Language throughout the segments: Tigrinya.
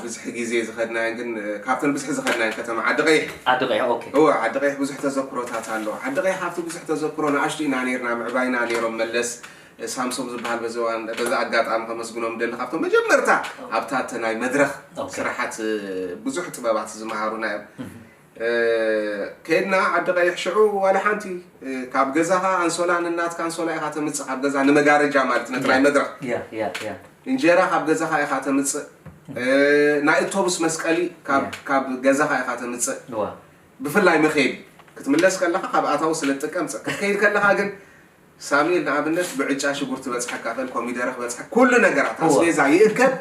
ብዝሕ ግዜ ዝኸድናየን ግን ካብተን ብዝሕ ዝኸድናየን ከተማ ዓዲ ቀይሕ ዓዲ ቀይሕ ኦኬ እወ ዓዲ ቀይሕ ብዙሕ ተዘክሮታት ኣሎ ዓዲ ቀይሕ ካብቲ ብዙሕ ተዘክሮ ንኣሽቱ ኢና ነርና ምዕባይና ነሮም መለስ ሳምሶም ዝበሃል በዚ እዋን በዚ ኣጋጣሚ ከመስግኖም ደሊ ካብቶም መጀመርታ ኣብታ ናይ መድረኽ ስራሓት ብዙሕ ጥበባት ዝመሃሩና እዮም ከይድና ዓዲ ቀይሕ ሽዑ ዋላ ሓንቲ ካብ ገዛኻ ኣንሶላ ንናትካ ኣንሶላ ኢኻ ተምጽእ ካብ ገዛ ንመጋረጃ ማለት ነቲ ናይ መድረኽ እንጀራ ካብ ገዛኻ ኢኻ ተምጽእ ናይ እቶብስ መስቀሊ ካብ ገዛኻ ኢኻ ተምጽእ ብፍላይ መኸየዲ ክትምለስ ከለኻ ካብ ኣታዊ ስለ ትጥቀም ክትከይድ ከለኻ ግን ሳሚኤል ንኣብነት ብዕጫ ሽጉርቲ በጽሐ ካፈል ኮሚደረ ክበጽሐ ኩሉ ነገራት ኣስቤዛ ይእከብ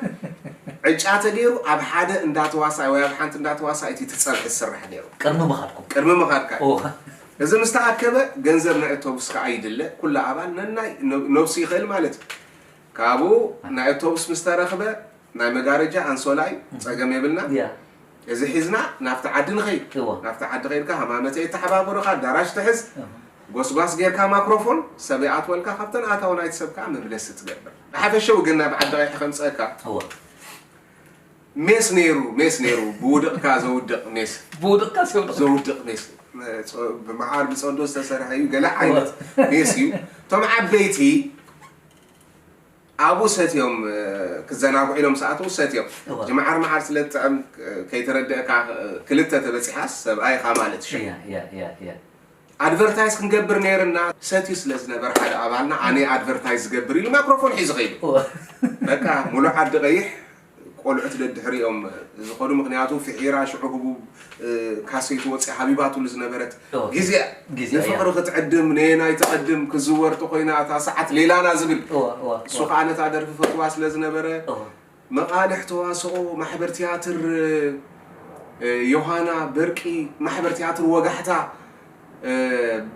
ዕጫ ተገይሩ ኣብ ሓደ እንዳ ተዋሳኢ ወይ ኣብ ሓንቲ እንዳ ተዋሳኢ እቲ ትጸብሒ ዝስራሕ ነይሩ ቅድሚ ምኻድኩም ቅድሚ ምኻድካ እዚ ምስ ተኣከበ ገንዘብ ናይ ኦቶቡስ ከኣ ይድለ ኩሉ ኣባል ነናይ ነብሱ ይኽእል ማለት እዩ ካብኡ ናይ ኣውቶቡስ ምስ ተረኽበ ናይ መጋረጃ ኣንሶላይ ጸገም የብልና ያ እዚ ሒዝና ናብቲ ዓዲ ንኸይድ እወ። ናብቲ ዓዲ ከይድካ ሃማመተ የተሓባብሩኻ ኣዳራሽ ትሕዝ እህ። ጎስጓስ ጌርካ ማክሮፎን ሰብ ይኣትወልካ ካብተን ኣታዊ ናይቲ ሰብ ከኣ መምለሲ ትገብር ብሓፈሽኡ ግን ናብ ዓዲ ቀይሕ ከምጸእካ እወ ሜስ ነይሩ ሜስ ነይሩ ብውድቕካ ዘውድቕ ሜስ ብውድቕካ ሰውድቕ ዘውድቕ ሜስ ጾ- ብመዓር ብጸንዶ ዝተሰርሐ እዩ ገለ ዓይነት ሜስ እዩ እቶም ዓበይቲ ኣብኡ ሰትዮም ክዘናግዑ ኢሎም ምስ ኣተዉ ሰትዮም እወ። እዚ መዓር መዓር ስለ ዝጥዕም ከይተረደእካ ክልተ ተበጺሓስ ሰብኣይ ኢኻ ማለት ሸም እያ እያ እያ እያ ኣድቨርታይዝ ክንገብር ነይርና ሰትዩ ስለ ዝነበረ ሓደ ኣባልና ኣነ ኣድቨርታይዝ ዝገብር ኢሉ ማክሮፎን ሒዙ ከይዱ እወ በቃ ሙሉእ ዓዲ ቀይሕ ቆልዑት ደድሕሪኦም ዝኸዱ ምኽንያቱ ፍሒራ ሽዑ ህቡብ ካሴት ወጺኣ ሃቢባትሉ ዝነበረት ግዜ እያ ንፍቕሪ ክትዕድም ነየናይ ትቐድም ክዝወር ተኾይና እታ ሰዓት ሌላና ዝብል እሱ ከዓ ነታ ደርፊ ፈትዋ ስለ ዝነበረ መቓልሕ ተዋስኦ ማሕበር ትያትር ዮሃና በርቂ ማሕበር ትያትር ወጋሕታ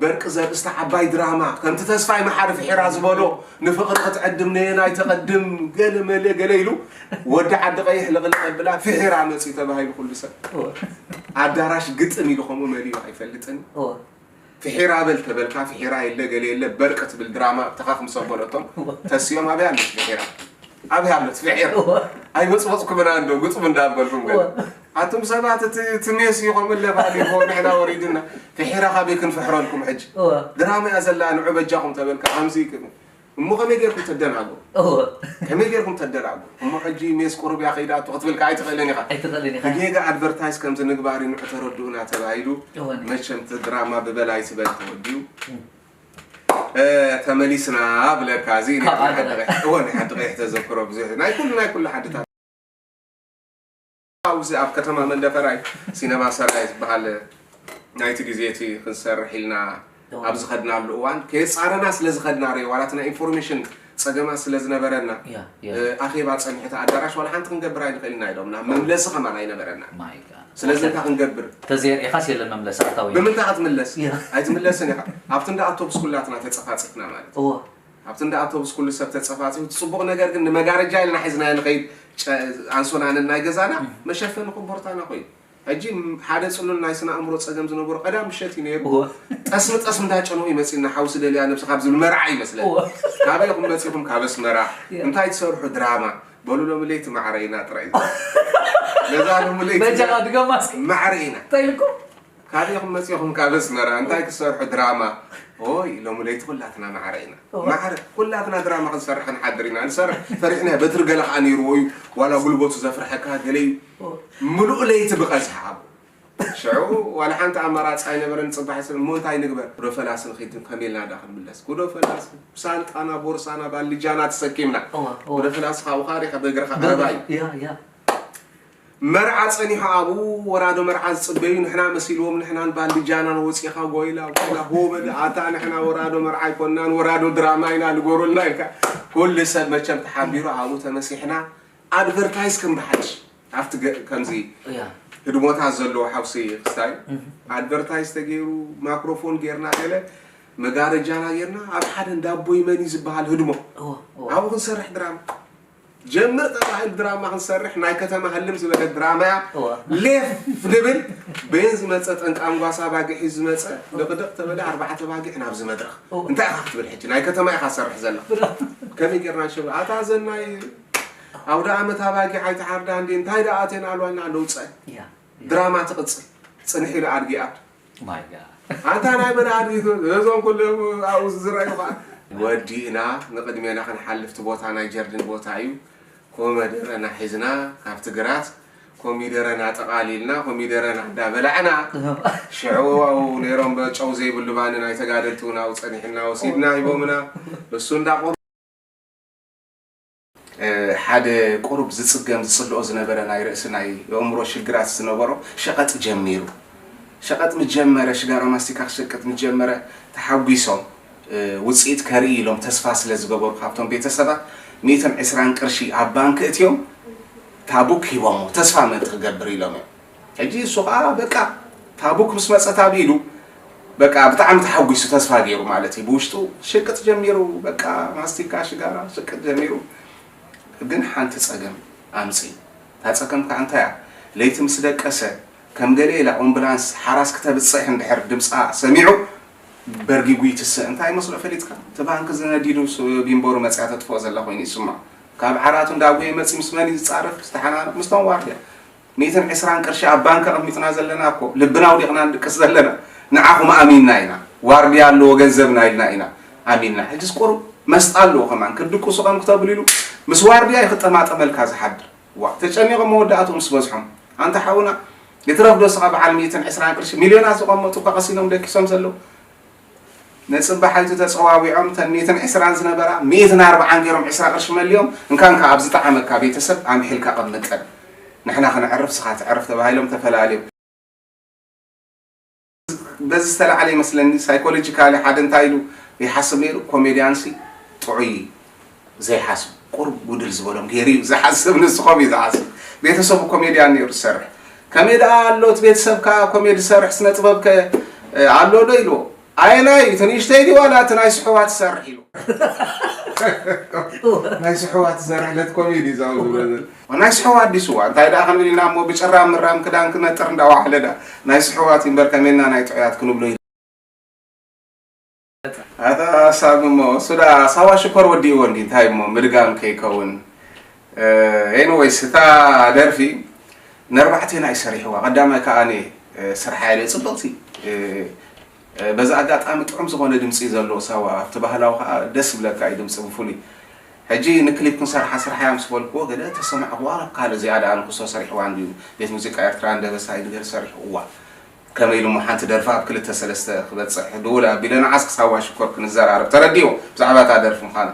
በርቂ ዘርእስታ ዓባይ ድራማ ከምቲ ተስፋይ መሓሪ ፍሒራ ዝበሎ ንፍቕሪ ክትዕድም ነየናይ ተቐድም ገለ መለ ገለ ኢሉ ወዲ ዓዲ ቀይሕ ልቕልቕ ኣብላ ፍሒራ መፅዩ ተባሂሉ ኩሉ ሰብ ኣዳራሽ ግጥም ኢሉ ከምኡ መሊኡ ኣይፈልጥን ፍሒራ በል ተበልካ ፍሒራ የለ ገለ የለ በርቂ ትብል ድራማ ተኻኽም ሰበረቶም ተስኦም ኣብያ ኣለች ፍሒራ ኣብያ ኣለች ፍሒራ ኣይበፅበፅኩምና እንዶ ግጥም እንዳበልኩም ገለ ኣቱም ሰባት እቲ እቲ ሜስ ኢኹም እለ ባዕሊኹ ንሕና ወሪዱና ፍሒራ ካበይ ክንፍሕረልኩም ሕጂ እወ ድራማ እያ ዘላ ንዑ በጃኹም ተበልካ ከምዚ ክብል እሞ ከመይ ጌርኩም ተደናግሩ እወ ከመይ ጌርኩም ተደናግሩ እሞ ሕጂ ሜስ ቁሩብ እያ ከይዳቶ ክትብል ከዓ ኣይትኽእልን ኢኻ ኣይትኽእልን ኢኻ ብጌጋ ኣድቨርታይዝ ከምዚ ንግባሪ ንዑ ተረድኡና ተባሂሉ እወ ነ- መቸም እቲ ድራማ ብበላይ ዝበል ተወዲኡ እ፣ ተመሊስና ብለካ እዚ ካብ ናይ ሓንቲ ዓደረ። ቀይሕ- እወ ናይ ሓንቲ ቀይሕ ተዘክሮ ብዙሕ ናይ ኩሉ ናይ ኩሉ ሓድታት ኣብዚ ኣብ ከተማ መንደፈራይ ሲነማ ሰናይ ዝበሃል ናይቲ ግዜ እቲ ክንሰርሕ ኢልና ኣብ ዝኸድናሉ እዋን ከየፃረና ስለ ዝኸድና ሬ ዋላት ናይ ኢንፎርሜሽን ፀገማት ስለ ዝነበረና ኣኼባ ፀንሑ እቲ ኣዳራሽ ዋላ ሓንቲ ክንገብር ኣይንኽእልና ኢሎም ናብ መምለሲ ከማን ኣይነበረና ስለዚ እንታይ ክንገብር ተዘየርኢኻስ የለን መምለሲ ኣታዊ ብምንታይ ክትምለስ ኣይትምለስን ኢኻ ኣብቲ እንዳ ኣውቶቡስ ኩላትና ተፀፋፂፍና ማለት ኣብቲ እንዳ ኣውቶቡስ ኩሉ ሰብ ተጸፋጺፉ፣ እቲ ጽቡቕ ነገር ግን ንመጋረጃ ኢልና ሒዝናዮ ንኸይድ ጨ ኣንሶላ ነናይ ገዛና መሸፈኒ ኮቦርታና ኮይኑ። ሕጂ ሓደ ጽሉል ናይ ስነ ኣእምሮ ጸገም ዝነበሮ ቀዳም ምሸት እዩ ነይሩ። ጠስሚ ጠስሚ እንዳጨነቑ እዩ መጺኡና፣ ሓው ስደልያ ነብስኻ ብዝብል መርዓ እዩ መስለኒ። ካበይ ኢኹም መጺኹም? ካብ ኣስመራ። እንታይ ትሰርሑ? ድራማ። በሉ ሎሚ ለይቲ ማዕረ ኢና ጥራይ ዝበሉ። ነዛ ሎሚ ለይቲ በጃኻ ድገማ እስኪ። ማዕረ ኢና። እንታይ ኢልኩም? ካሊእ ኢኩም መፂኩም ካብ ኣስመራ እንታይ ክትሰርሑ ድራማ ኦይ ሎሚ ለይቲ ኩላትና ማዕረ ኢና ማዕረ ኩላትና ድራማ ክንሰርሕ ክንሓድር ኢና ንሰርሕ ፈሪሕና በትሪ ገለ ከዓ ነይርዎ እዩ ዋላ ጉልበቱ ዘፍርሐካ ገለ እዩ ምሉእ ለይቲ ብቀዝሓ ኣብ ሽዑ ዋላ ሓንቲ ኣማራፂ ኣይነበረን ፅባሕ ስለ እሞ እንታይ ንግበር ጉዶ ፈላሲ ንኺድ ከመይ ኢልና ዳ ክንምለስ ጉዶ ፈላሲ ሳንጣና ቦርሳና ባልጃና ተሰኪምና ጉዶ ፈላሲ ካብኡ ካሪኻ በእግርኻ ቀረባ እዩ መርዓ ጸኒሑ ኣብኡ ወራዶ መርዓ ዝጽበዩ ንሕና መሲልዎም ንሕናን ባንድጃናን ወጺኻ ጎይላ ጎይላ ሆ በል ኣታ ንሕና ወራዶ መርዓ ኣይኮናን ወራዶ ድራማ ኢና ንገሩልና ኢልካ ኩሉ ሰብ መቸም ተሓቢሩ ኣብኡ ተመሲሕና ኣድቨርታይዝ ከም ብሓድሽ ኣብቲ ከምዚ ህድሞታት ዘለዎ ሓውሲ ክስታይ ኣድቨርታይዝ ተገይሩ ማይክሮፎን ጌርና ገለ መጋረጃና ጌርና ኣብ ሓደ እንዳቦይ መኒ ዝበሃል ህድሞ ኣብኡ ክንሰርሕ ድራማ ጀምር ተባሂሉ ድራማ ክንሰርሕ ናይ ከተማ ህልም ዝበለት ድራማ እያ እዋ። ሌፍ ንብል በየን ዝመፀ ጠንቂ ኣንጓሳ ኣባጊዕ ሒዙ ዝመፀ ድቕድቕ ተበለ ኣርባዕተ ኣባጊዕ ናብዚ መድረኽ እንታይ ኢኻ ክትብል ሕጂ ናይ ከተማ ኢኻ ትሰርሕ ዘለኻ ከመይ ጌርና ንሸብ ኣታ ዘናይ ኣውደ ኣመት ኣባጊዕ ኣይትሓርዳ እንዴ እንታይ ደኣ ኣቴን ኣልዋና ኣለውፀ እያ ድራማ ትቅጽል ጽንሕ ኢሉ ኣድጊ ኣብ። ማይ ጋድ። ኣንታ ናይ መን ኣድጊ ትብል ነዞም ኩሎም ኣብኡ ዝዝረኣዩ ከኣ። ወዲእና ንቅድሜና ክንሓልፍ እቲ ቦታ ናይ ጀርዲን ቦታ እዩ ኮመደረና ሒዝና ካብቲ ግራት ኮሚደረና ጠቃሊልና ኮሚደረና እንዳ በላዕና ሽዑ ኣብኡ ነይሮም በ ጨው ዘይብሉ ባኒ ናይ ተጋደልቲ እውን ኣብኡ ጸኒሕና ወሲድና ሂቦምና ንሱ እንዳ ሓደ ቁሩብ ዝጽገም ዝጽልኦ ዝነበረ ናይ ርእሲ ናይ የእምሮ ሽግራት ዝነበሮ ሸቐጥ ጀሚሩ። ሸቐጥ ምስ ጀመረ ሽጋራ ማስቲካ ክሸቅጥ ምስ ጀመረ ተሓጒሶም ውጽኢት ከርኢ ኢሎም ተስፋ ስለ ዝገበሩ ካብቶም ቤተሰባት ሚእትን ዕስራን ቅርሺ ኣብ ባንክ እእትዮም ታቡክ ሂቦሞ ተስፋ ምእንቲ ክገብር ኢሎም እዮም። ሕጂ እሱ ከኣ በቃ ታቡክ ምስ መጸት ኣብ ኢዱ በቃ ብጣዕሚ ተሓጒሱ ተስፋ ጌሩ ማለት እዩ ብውሽጡ ሽቅጥ ጀሚሩ በቃ ማስቲካ ሽጋራ ሽቅጥ ጀሚሩ ግን ሓንቲ ጸገም ኣምጺ እታ ጸገም ከኣ እንታይ እያ ለይቲ ምስ ደቀሰ ከም ገለ ኢላ ኦምብላንስ ሓራስ ክተብጽሕ እንድሕር ድምጻ ሰሚዑ በርጊጉ ይትስእ እንታይ መስሎ ፈሊጥካ እቲ ባንኪ ዝነዲዱ ቢምቦሩ መጽያ ተጥፍኦ ዘላ ኮይኑ ይስምዖ ካብ ዓራቱ እንዳጎየ መጺ ምስ መን እዩ ዝጻረፍ ዝተሓናነቕ ምስቶም ዋርድያ ሚእትን ዕስራን ቅርሺ ኣብ ባንክ ኣቅሚጥና ዘለና እኮ ልብና ኣውዲቅና ንድቅስ ዘለና ንዓኹም ኣሚንና ኢና ዋርድያ ኣለዎ ገንዘብና ኢልና ኢና ኣሚንና ሕጅስ ቁሩብ መስጣ ኣለዎ ከማን ክትድቅሱ ከም ክተብሉ ኢሉ ምስ ዋርድያ እዩ ክጠማጠመልካ ዝሓድር ዋእ ተጨኒቆም መወዳእትኡ ምስ በዝሖም ኣንታ ሓውና ይትረፍ ዶ እስኻ በዓል ሚእትን ዕስራን ቅርሺ ሚልዮናት ዝቀመጡ እኳ ቀሲኖም ደቂሶም ዘለው ንጽባሓይቲ ተጸዋዊዖም እተን ሚእትን ዕስራን ዝነበራ ሚእትን ኣርብዓን ጌሮም ዕስራ ቅርሺ መሊኦም እንካ እንካ ኣብ ዝጠዓመካ ቤተሰብ ኣምሒልካ ቀምጠን ንሕና ክንዕርፍ ስኻ ትዕርፍ ተባሂሎም ተፈላልዮም። በዚ ዝተላዕለ ይመስለኒ ሳይኮሎጂካሊ ሓደ እንታይ ኢሉ ይሓስብ ኔሩ ኮሜድያንሲ ጥዑይ ዘይሓስብ ቁሩብ ጉድል ዝበሎም ጌሩ እዩ ዝሓስብ ንስኮም እዩ ዝሓስብ ቤተሰቡ ኮሜድያን ኔሩ ዝሰርሕ ከመይ ደኣ ኣሎ እቲ ቤተሰብካ ኮሜዲ ዝሰርሕ ስነ ጥበብ ከ ኣሎ ዶ ኢልዎ ኣየናይ እዩ እቲ ንእሽተይ ድዩ ዋላ እቲ ናይ ስሑዋት ዝሰርሕ ኢሉ ናይ ስሑዋት ዝሰርሕ ለት ኮሜዲ ዛው ዝበለ ናይ ስሑዋ ኣዲስ እዋ እንታይ ደኣ ክንብል ኢና እሞ ብጭራ ምራም ክዳን ክነጥር እንዳዋሕለ ደኣ ናይ ስሑዋት እዩ እምበር ከመይና ናይ ጥዑያት ክንብሎ ኣታ ሳሚ እሞ እሱ ደኣ ሳዋ ሽኮር ወዲእዎ እንዲ እንታይ እሞ ምድጋም ከይከውን ኤኒዌይስ እታ ደርፊ ነርባዕቴና እዩ ሰሪሕዋ ቀዳማይ ከኣ ስርሓ የለ ፅብቕቲ በዚ ኣጋጣሚ ጥዑም ዝኾነ ድምፂ እዩ ዘለዎ ሳዋ ኣብቲ ባህላዊ ከዓ ደስ ይብለካ እዩ ድምፂ ብፍሉይ ሕጂ ንክሊፕ ክንሰርሓ ስርሓ እያ ምስ በልክዎ ገለ ተሰማዕክዋ ናብ ካልእ እዚኣ ደኣ ንክሶ ሰሪሕዋ እንድዩ ቤት ሙዚቃ ኤርትራ እንደበሳ ይንገር ሰሪሕዋ ከመይ ኢሉ'ሞ ሓንቲ ደርፊ ኣብ ክልተ ሰለስተ ክበጽሕ ድውል ኣቢለ ንዓስ ክሳብ ዋሽኮር ክንዘራረብ ተረዲእዎ ብዛዕባ እታ ደርፊ ምዃና።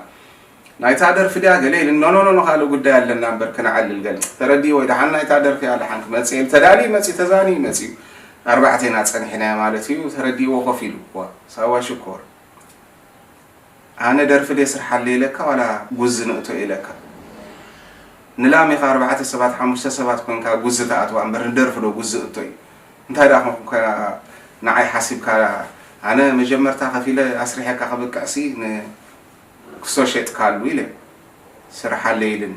ናይታ ደርፊ ድያ ገለ ኢሉኒ ኖኖኖኖ ካልእ ጉዳይ ኣለና እምበር ክነዕልል ገለ። ተረዲእዎ'ዩ ደሓን ናይታ ደርፊ እያ ደሓን ክመጽእ'የ ኢሉ ተዳልዩ መጽዩ ተዛንዩ መጽዩ ኣርባዕቴና ጸኒሕናዮ ማለት'ዩ ተረዲእዎ ኮፍ ኢሉ። ዋእ ሳዋ ሽኮር! ኣነ ደርፊ ድየ ስርሓለይ ኢለካ ዋላ ጉዚ ንእቶ ኢለካ ንላም ኢኻ ኣርባዕተ ሰባት ሓሙሽተ ሰባት ኮንካ ጉዚ ትኣትዋ እምበር ንደርፊ ዶ ጉዚ እቶ እዩ እንታይ ደኣ ኮንካ ንዓይ ሓሲብካ ኣነ መጀመርታ ከፊለ ኣስሪሐካ ከብቅዕሲ ን ክሶ ሸጥካሉ ኢለ ስርሓለይ ኢልኒ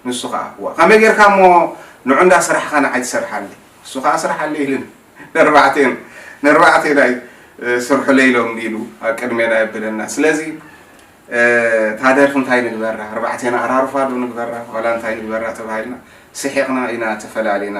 ንሱ ከኣ እዋ ከመይ ጌርካ እሞ ንዑ እንዳ ስራሕኻ ንዓይ ትሰርሓለይ ንሱ ከኣ ስርሓለይ ኢልኒ ነርባዕቴን ነርባዕቴን ኣይ ስርሑለይ ኢሎም ኢሉ ኣብ ቅድሜና የብለና ስለዚ እታ ደርፊ እንታይ ንግበራ ኣርባዕቴና ኣራርፋ ዶ ንግበራ ዋላ እንታይ ንግበራ ተባሂልና ስሒቕና ኢና ተፈላሊና